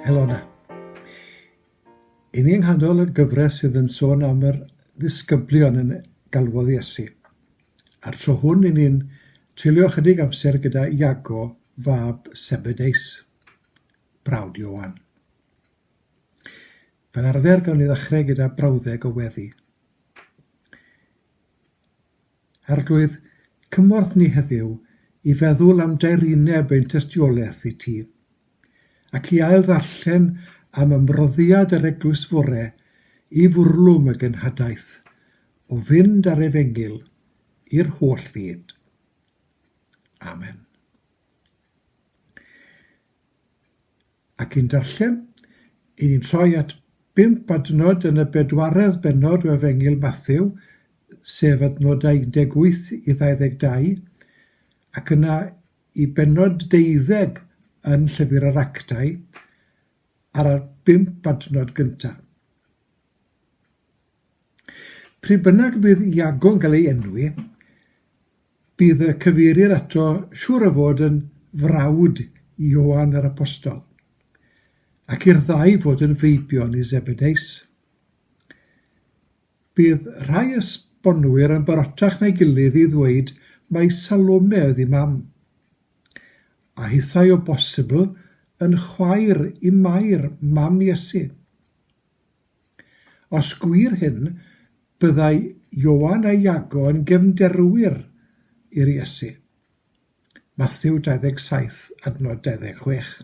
Helona. Yn ein hanol y gyfres sydd yn sôn am yr ddisgyblion yn galwodd Iesu. A'r tro hwn yn ni'n treulio chydig amser gyda Iago, fab Sebedeus, brawd Iowan. Fel arfer gawn ni ddechrau gyda brawddeg o weddi. Arglwydd, cymorth ni heddiw i feddwl am daerineb ein tystiolaeth i Ti, ac i ail-ddarllen am ymroddiad yr Eglwys fore i fwrlwm y genhadaeth o fynd â'r Efengyl i'r holl fyd. Amen. Ac yn darllen, i ni'n troi at bump adnod yn y bedwaredd bennod o Efengyl Mathew, sef adnodau 18 i 22, ac yna i bennod deuddeg yn Llyfr yr Actau, ar y bump adnod gyntaf. Pryd bynnag y bydd Iago'n cael ei enwi, Bydd y cyfeirir ato siŵr o fod yn frawd i Ioan yr Apostol, ac i'r ddau fod yn feibion i Zebedeus. Bydd rhai esbonwyr yn barotach na'i gilydd i ddweud mai Salome oedd ei mam, a hithau o bosibl yn chwaer i Mair, mam Iesu. Os gwir hyn, byddai Ioan a Iago yn gefnderwyr i'r Iesu. Mathew 27 adnod 26.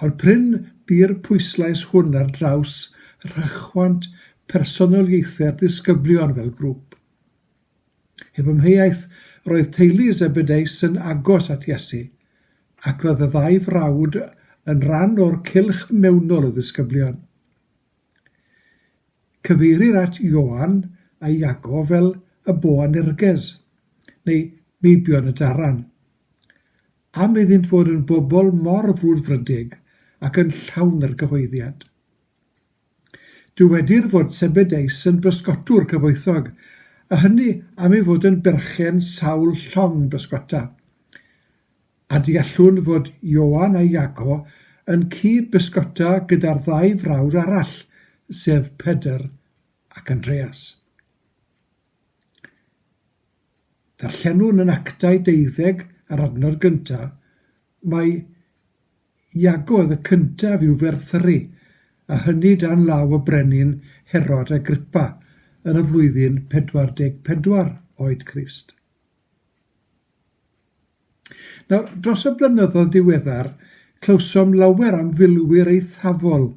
Ond prin bu'r pwyslais hwn ar draws rhychwant personoliaethau'r disgyblion fel grŵp. Heb amheuaeth, roedd teulu Zebedeus yn agos at Iesu, ac roedd y ddau frawd yn rhan o'r cylch mewnol o ddisgyblion. Cyfeirir at Ioan a Iago fel y Boanerges, neu meibion y daran. Am iddynt fod yn bobl mor frwdfrydig ac yn llawn argyhoeddiad. Dywedir fod Sebedeus yn bysgotwr cyfoethog, a hynny am ei fod yn berchen sawl llong bysgota. A deallwn fod Ioan a Iago yn cyd-bysgota gyda'r ddau frawd arall, sef Pedr ac Andreas. Darllenwn yn Actau deuddeg a'r adnod gyntaf, mae Iago oedd y cyntaf i'w ferthru, a hynny dan law y brenin Herod Agrippa yn y flwyddyn 44 oed Crist. Nawr, dros y blynyddoedd diweddar, clywsom lawer am filwyr eithafol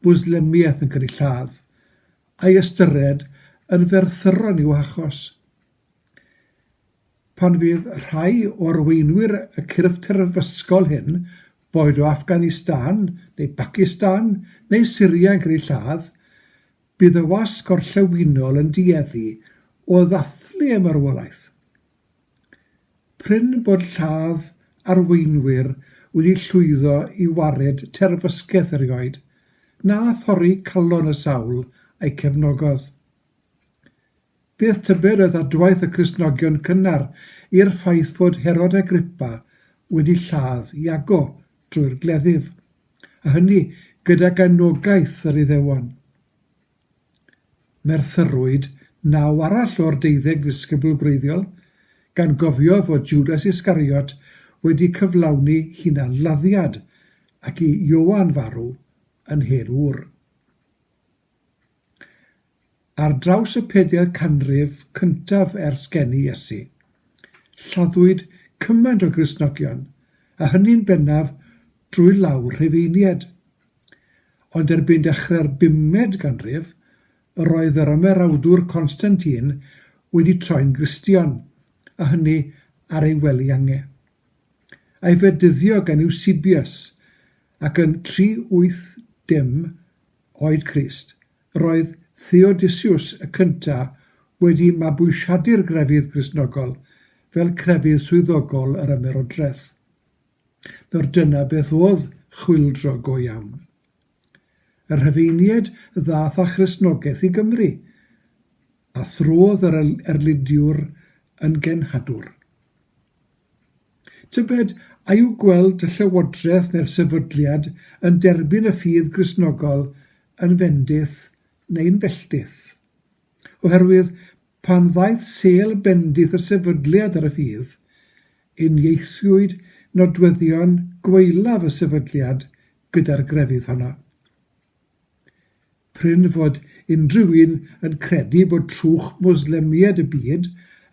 Mwslemiaeth yn cael eu lladd, a'i ystyried yn ferthyron i'w hachos. pan fydd rhai o arweinwyr y cyrff terfysgol hyn, boed o Afghanistan neu Bacistan neu Syria yn cael eu lladd, bydd y wasg gorllewinol yn dueddu o ddathlu y marwolaeth. Prin bod lladd arweinwyr wedi llwyddo i wared terfysgeth erioed, na thorri calon y sawl a'i cefnogodd. Bydd Tiberius a dwaith y Cristnogion cynnar i'r ffaith fod Herod Agrippa wedi lladd Iago drwy'r gleddyf, a hynny gydag anogaeth yr Iddewon. Merthyrwyd naw arall o'r deuddeg ddisgybl gwreiddiol, gan gofio fod Judas Iscariot wedi cyflawni hunan-laddiad ac i Ioan farw yn hen ŵr. Ar draws y pedair canrif cyntaf ers geni Iesu, lladdwyd cymaint o Gristnogion, a hynny'n bennaf drwy law Rhufeiniaid. Ond erbyn dechrau'r bumed ganrif, yr oedd yr ymerawdwr Constantine wedi troi'n Gristion, a hynny ar ei wely ange. A'i fedyddio gan Eusebius, ac yn 380 oed Crist, Roedd Theodosius y Cyntaf wedi mabwysiadu'r grefydd Gristnogol fel crefydd swyddogol yr Ymerodraeth. Nawr dyna beth oedd chwyldro go iawn. Y Rhufeiniaid ddaeth â Christnogaeth i Gymru, a throdd yr Erlidiwr yn genhadwr. Tybed, a yw gweld y Llywodraeth neu'r Sefydliad yn derbyn y ffydd Gristnogol yn fendith neu'n felltith? Oherwydd, pan ddaeth sêl bendith y Sefydliad ar y ffydd, uniaethiwyd nodweddion gwaelaf y Sefydliad gyda'r grefydd honno. Prin fod unrhyw un yn credu bod trwch Mwslemiaid y byd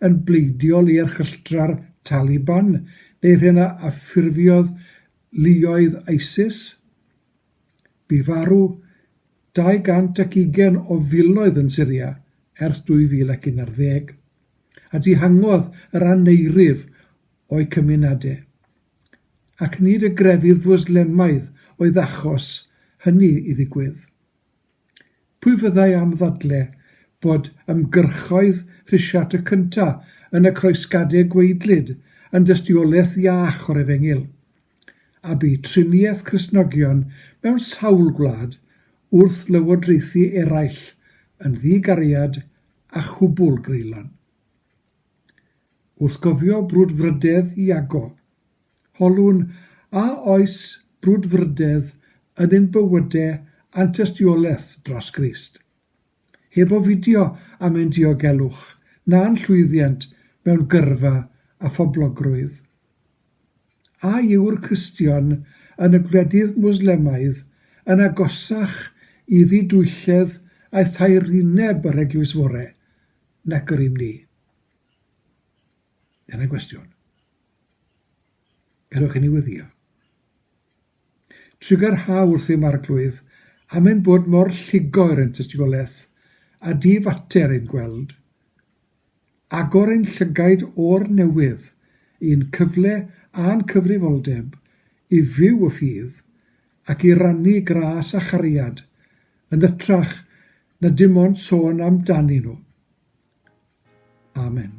yn bleidiol i erchylltra'r Taliban neu'r hyn a ffurfiodd luoedd ISIS. Bu farw 220 o filoedd yn Syria ers 2011, a dihangodd yr aneirif o'u cymunedau, ac nid y grefydd Fwslemaidd oedd achos hynny i ddigwydd. Pwy fyddai am ddadle bod ymgyrchoedd Rhisiart y Cynta yn y Croesgadeg gweidlyd yn dystiolaeth iach o'r efengyl, a bu triniaeth Cristnogion mewn sawl gwlad wrth lywodraethu eraill yn ddi-gariad a chwbwl greulon. Wrth gofio brwdfrydedd Iago, holwn a oes brwdfrydedd yn ein bywyde a'n tystiolaeth dros Grist. Heb ofidio am ein diogelwch na'n llwyddiant mewn gyrfa a phoblogrwydd. A yw'r Cristion yn y gwledydd Mwslemaidd yn agosach i ddidwylledd a thaerineb yr Eglwys Fore nag yr ym ni. Dyna gwestiwn. Gadewch i ni wyddio. Trigger ha wrth im arglwydd, am ein bod mor lligo er ein tystigolaeth, a di fater ein gweld, agor ein llygaid o'r newydd i'n cyfle a'n cyfrifoldeb i fyw y ffydd ac i rannu gras a chariad, yn ytrach na dim ond sôn amdanyn nhw. Amen.